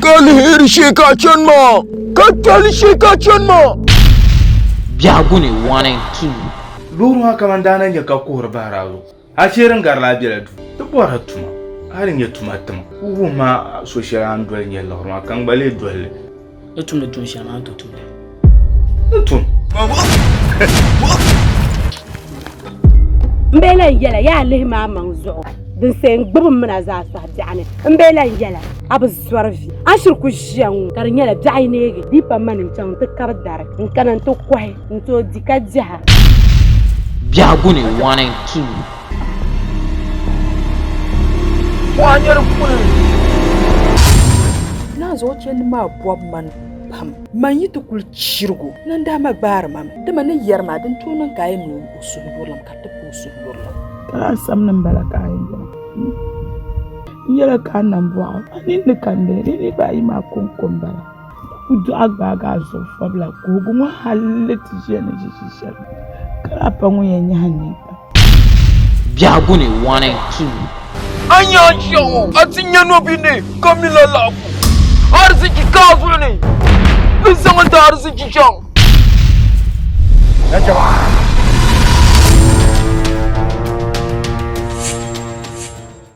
Ka lihiri shee ka a chani maa, ka tɔli shee ka a chani maa. Biɛhigu ni, one and two. Loori maa kamani daa na nya ka kuhiri bahiri a zuɣu. A chɛ di ni gari la a bela duu ti bɔri a tuma. A di nyɛ tuma tima. Wuhim ma a so shɛli a ni doli nyɛ liɣiri maa ka n gba leei doli li. Ni tumdi tuun shɛli maa ni tooi tumdi. N tun. N bee lan yɛla yaa lihi maa maŋ zuɣu din see n gbubi m mina zaa sɔhi biɛɣu ni. N bee lan yɛla a bi zɔri vi a ni shiri ku ʒiya ŋɔ ka di nyɛla biɛɣu yi neegi di yi pa mani n chaŋ n ti kari dari n kana n ti kɔhi n tooi di ka diɛha. Biɛhigu ni one and two. Mɔɣu nyɛri puuni. Naa zuɣu chɛndi maa bɔbi man pam. Man yi ti kuli chirigu, nandaa ma gbaari ma mi. Dama ni yɛri ma, din tooi niŋ ka a yɛn niŋ o suhuyurilim ka ti pa o suhuyurilim. Ka lahi sani ni m-bala ka a yɛn bɔŋɔ. N yɛli a ka a nam bɔɣu, a ninni ka n leei. Di niriba ayi maa kɔŋko m-bala. ku dɔɣi gbaagi a zuɣu fabila ka o gu ŋɔ hal ni ti ʒiya ni ʒiʒi shɛli ka lahi pa ŋun yɛn nyahi n nini pam. Biɛhigu ni, one and two. A nya shɛŋa, a ti nya nɔbihi ni ka mi la laɣigu. Ariziki ka a zuɣu ni, bɛ zaŋ n-ti ariziki chaŋ.